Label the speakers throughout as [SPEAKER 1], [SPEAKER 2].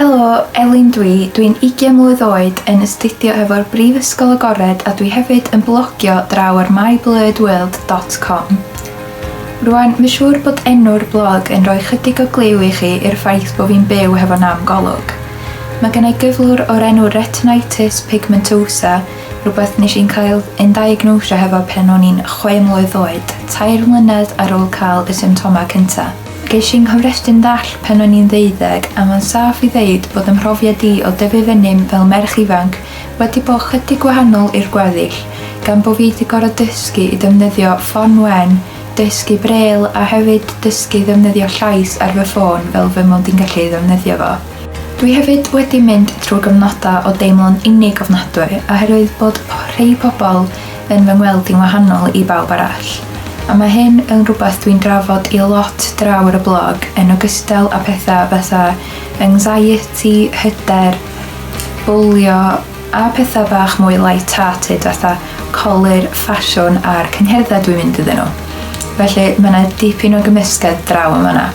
[SPEAKER 1] Helo, Elin dwi, dwi'n 20 mlwydd oed yn astudio efo'r Brifysgol Agored a dwi hefyd yn blogio draw ar myblurredworld.com. Rwan, mae'n siŵr bod enw'r blog yn rhoi chydig o glyw i chi i'r ffaith bod fi'n byw hefo nam golwg. Mae gennau gyflwr o'r enw retinitis pigmentosa Rhywbeth nes i'n cael yn diagnosio hefo pan o'n i'n chwe mlwydd oed, tair mlynedd ar ôl cael y symptomau cynta. Ges i'n nghofrestru'n ddall pan o'n i'n ddeuddeg a mae'n saff i ddeud bod 'y mhrofiad i o dyfu fyny'n fel merch ifanc wedi bod chydig gwahanol i'r gweddill gan bo' fi 'di gor'o' dysgu i ddefnyddio ffon wen, dysgu brêl a hefyd dysgu i ddefnyddio llais ar fy ffôn fel fy mod i'n gallu ei ddefnyddio fo. Dwi hefyd wedi mynd trwy gyfnodau o deimlo'n unig ofnadwy oherwydd bod rhei pobl yn fy ngweld i'n wahanol i bawb arall, a mae hyn yn rhywbeth dwi'n drafod i lot draw ar y blog yn ogystal â pethau fatha anxiety, hyder, bwlio a pethau bach mwy light hearted fatha colur, ffasiwn a'r cyngherddau dwi'n mynd iddyn nhw. Felly mae 'na dipyn o gymysgedd draw yn fan'na.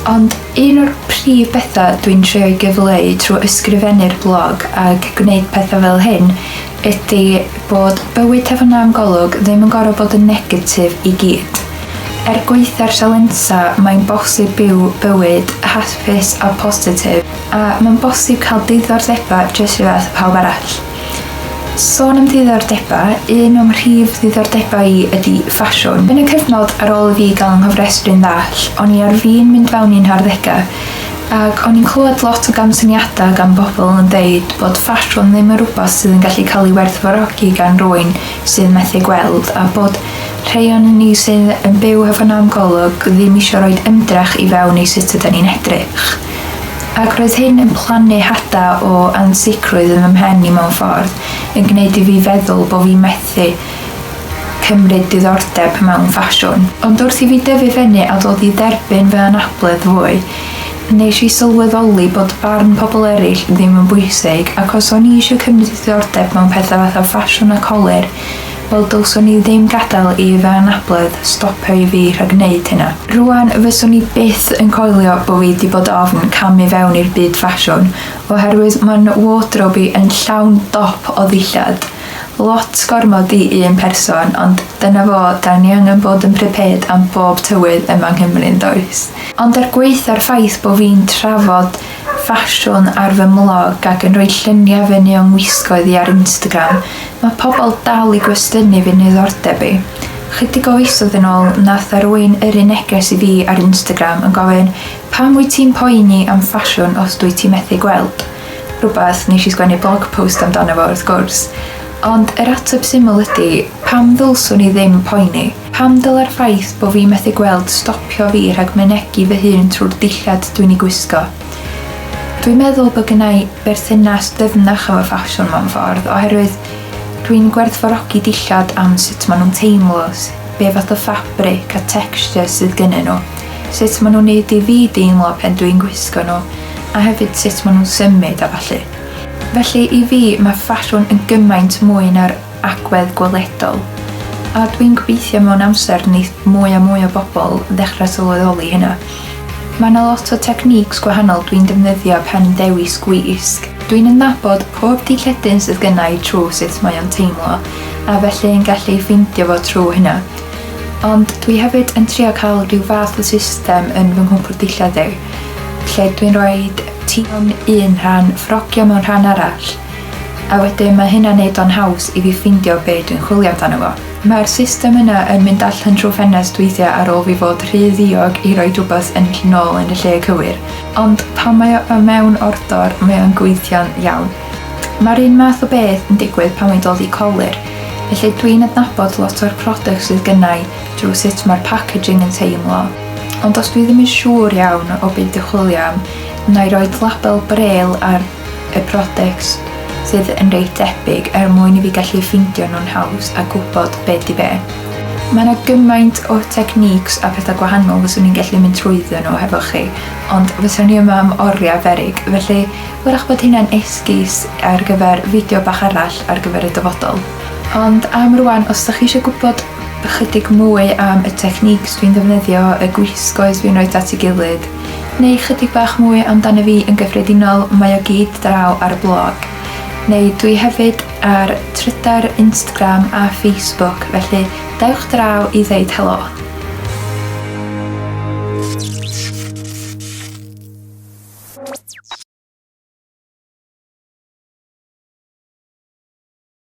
[SPEAKER 1] Ond Un o'r prif bethau dwi'n trio'i gyfleu trwy ysgrifennu'r blog ac gwneud pethau fel hyn ydy bod bywyd Tafod Nam Golwg ddim yn gorfod bod yn negatif i gyd. Er gwaetha'r sialensa mae'n bosib byw bywyd hapus a positif a mae'n bosib cael diddordebau jyst rhyfedd â phawb arall. Sôn am ddiddordebau, un o'm rhif ddiddordebau i ydy ffasiwn. Yn y cyfnod ar ôl i fi gael 'y nghofrestru'n ddall, o'n i ar fin mynd fewn i'n harddegau, ac o'n i'n clywed lot o gamsyniadau gan bobl yn deud bod ffasiwn ddim yn rhywbeth sydd yn gallu cael ei werthfawrogi gan rywun sydd methu gweld, a bod rhei o'n ni sydd yn byw hefo nam golwg ddim isio rhoi ymdrech i fewn i sut ydan ni'n edrych. Ac roedd hyn yn plannu hada o ansicrwydd yn fy mhen i mewn ffordd, yn gwneud i fi feddwl bo fi methu cymryd diddordeb mewn ffasiwn. Ond wrth i fi dyfu fyny a dod i dderbyn fy anabledd fwy, nes i sylweddoli bod barn pobl eraill ddim yn bwysig, ac os o'n i isio cymryd diddordeb mewn pethau fatha ffasiwn a colur, Wel dylswn i ddim gadael i fy anabledd stopio i fi rhag neud hynna. Rwan fyswn i byth yn coelio bo fi di bod ofn cam i fewn i'r byd ffasiwn oherwydd ma n wardrobe i yn llawn dop o ddillad. Lot gormod i un person ond dyna fo da ni angen bod yn prepared am bob tywydd yma Nghymru yndoes? Ond er gwaetha'r ffaith bo fi'n trafod ffasiwn ar fy mlog ac yn rhoi lluniau fy nuon gwisgoedd i ar Instagram, mae pobl dal i gwestiynu fy niddordeb i. Chydig o fisoedd yn ôl, nath 'na rywun yrru neges i fi ar Instagram yn gofyn pam wyt ti'n poeni am ffasiwn os dwyt ti methu gweld? rhywbeth nes i sgwennu blog post amdano fo wrth gwrs. Ond yr ateb syml ydi, pam ddylswn i ddim poeni? Pam dylai'r ffaith bo' fi methu gweld stopio fi rhag mynegi fy hun trwy'r dillad dwi'n ei gwisgo? Dwi'n meddwl bod gennai berthynas dyfnach efo ffasiwn mewn ffordd oherwydd dwi'n gwerthfawrogi dillad am sut maen nhw'n teimlo, be' fath o ffabric a texture sydd gynnyn nhw, sut maen nhw'n neud i fi deimlo pan dwi'n gwisgo nhw a hefyd sut maen nhw'n symud a ballu. Felly i fi, mae ffasiwn yn gymaint mwy na'r agwedd gweledol, a dwi'n gobeithio mewn amser neith mwy a mwy o bobl ddechrau sylweddoli hynna. Mae yna lot o techniques gwahanol dwi'n defnyddio pan yn dewis gwisg. Dwi'n adnabod pob dilledyn sydd gynna i trwy sut mae o'n teimlo, a felly yn gallu ffeindio fo trwy hynna. Ond dwi hefyd yn trio cael rhyw fath o system yn fy nghwpwrdd dillad i, lle dwi'n rhoi ti mewn un rhan, ffrogio mewn rhan arall, A wedyn mae hynna'n neud o'n haws i fi ffeindio be' dwi'n chwilio amdano fo. Mae'r system yna yn mynd allan trw ffenest weithia ar ôl fi fod rhy ddiog i roid wbath yn ll nôl yn y lle cywir. Ond pan mae o y mewn ordor mae o'n gweithio'n iawn. Mae'r un math o beth yn digwydd pan mae'n dod i colur. Felly dwi'n adnabod lot o'r product sydd gynnai drw sut mae'r packaging yn teimlo. Ond os dwi ddim yn siŵr iawn o be' dwi chwilio am, nai roid label braille ar y products sydd yn reit debyg er mwyn i fi gallu ffeindio nhw'n haws a gwybod be di be. Mae yna gymaint o techniques a pethau gwahanol fyswn i'n gallu mynd trwyddo nhw hefo chi, ond fyswn i yma am oriau berig, felly wyrach bod hynna'n esgus ar gyfer fideo bach arall ar gyfer y dyfodol. Ond am rwan, os da chi eisiau gwybod ychydig mwy am y techniques dwi'n ddefnyddio, y gwisgoes fi'n rhoi at ei gilydd, Neu chydig bach mwy amdano fi yn gyffredinol, mae o gyd draw ar y blog. Neu dwi hefyd ar Trydar, Instagram a Facebook, felly dewch draw i ddeud helo.